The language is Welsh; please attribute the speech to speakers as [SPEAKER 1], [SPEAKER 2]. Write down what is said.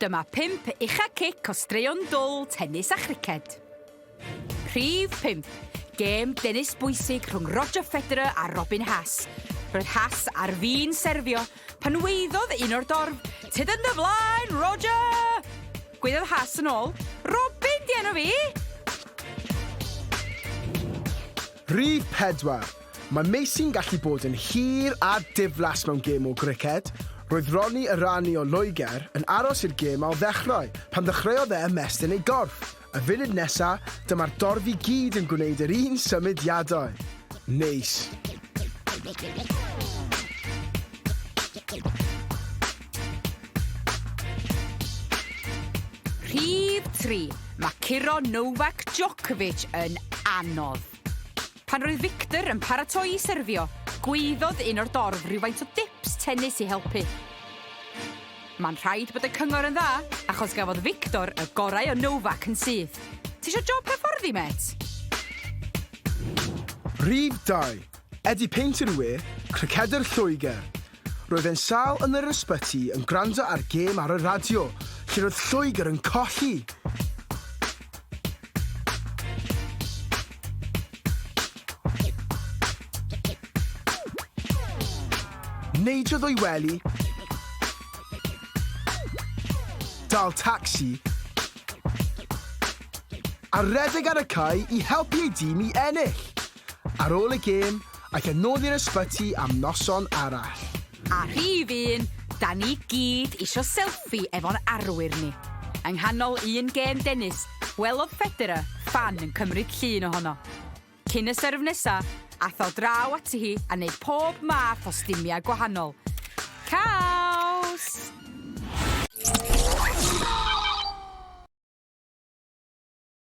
[SPEAKER 1] Dyma pump ucha cic o straeon dwl, tennis a chriced. Rhif 5. Gêm dennis bwysig rhwng Roger Federer a Robin Haas. Roedd Haas ar fin serfio pan weiddodd un o'r dorf, Tyd yn dy flaen, Roger! Gweiddodd Haas yn ôl, Robin di enw fi!
[SPEAKER 2] Rhif 4. Mae Meisy'n gallu bod yn hir a diflas mewn gêm o griced. Roedd Ronnie Erani o Loegr yn aros i'r gêm ailddechrau pan ddechreuodd e ymestyn ei gorff. Y funud nesa, dyma'r dorf i gyd yn gwneud yr un symudiadau. Neis.
[SPEAKER 1] Rhif 3, mae curo Novak Djokovic yn anodd. Pan roedd Victor yn paratoi i serfio, gwaeddodd un o'r dorf rhywfaint o dips tennis i helpu. Mae'n rhaid bod y cyngor yn dda, achos gafodd Victor y gorau o Novak yn syth. Ti eisiau job hyfforddi, met?
[SPEAKER 2] Rhif 2, Eddie Painter Wê, cricedwr Lloegr. Roedd e'n sâl yn yr ysbyty yn gwrando ar gêm ar y radio, lle roedd Lloegr yn colli! Neidiodd o'i wely, dal tacsi, a redeg ar y cae i helpu ei dîm i ennill. ar ôl y gêm ac yn nôl i'r ysbyty am noson arall. A rhif
[SPEAKER 1] un, da ni gyd isio selffi efo'n arwyr ni. Yng nghanol un gêm dennis, gwelodd Federer ffan yn cymryd llun ohono. Cyn y serf nesa, ath o draw ati hi a neud pob math o stumia gwahanol. Caws!